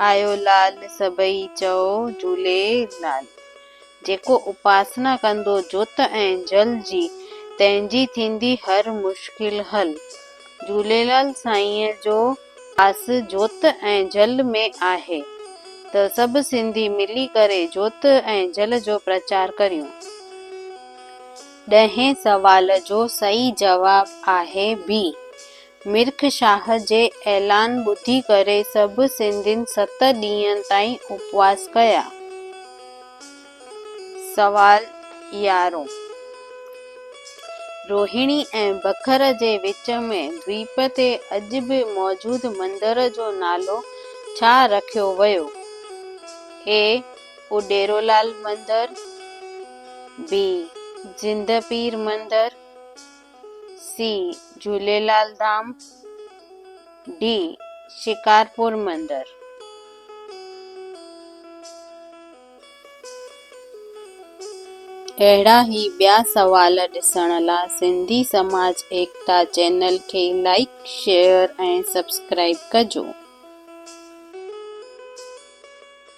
آيو لال سڀئي چئو جهولي لال. جيڪو اپاسنا ڪندو جوت ۽ جل جي تنهن جي ٿيندي هر مشڪل حل. جهوليلال سائينء جو واس جوت ۽ جل ۾ آهي ته سڀ سنڌي ملي ڪري جوت ۽ جل جو پرچار ڪريون. ڏهين سوال جو صحيح جواب آهي بي. مرڪ شاهه جي اعلان ٻڌي ڪري سڀ سنڌين ست ڏينهن تائين اپواس ڪيا. سوال يارهون. روهيڻي ۽ بکر جي وچ ۾ دويپ تي اڄ به موجود مندر جو نالو ڇا رکيو ويو؟ اي. ڏيرولال مندر، بي زنده پير مندر، سي جهوليلال ڌام، ڊي شڪارپور مندر. اهڙا هي ٻيا سوال ڏسڻ لا سنڌي سماج ايڪتا چينل کي لائيڪ شيئر ۽ سبسڪرائيب ڪجو.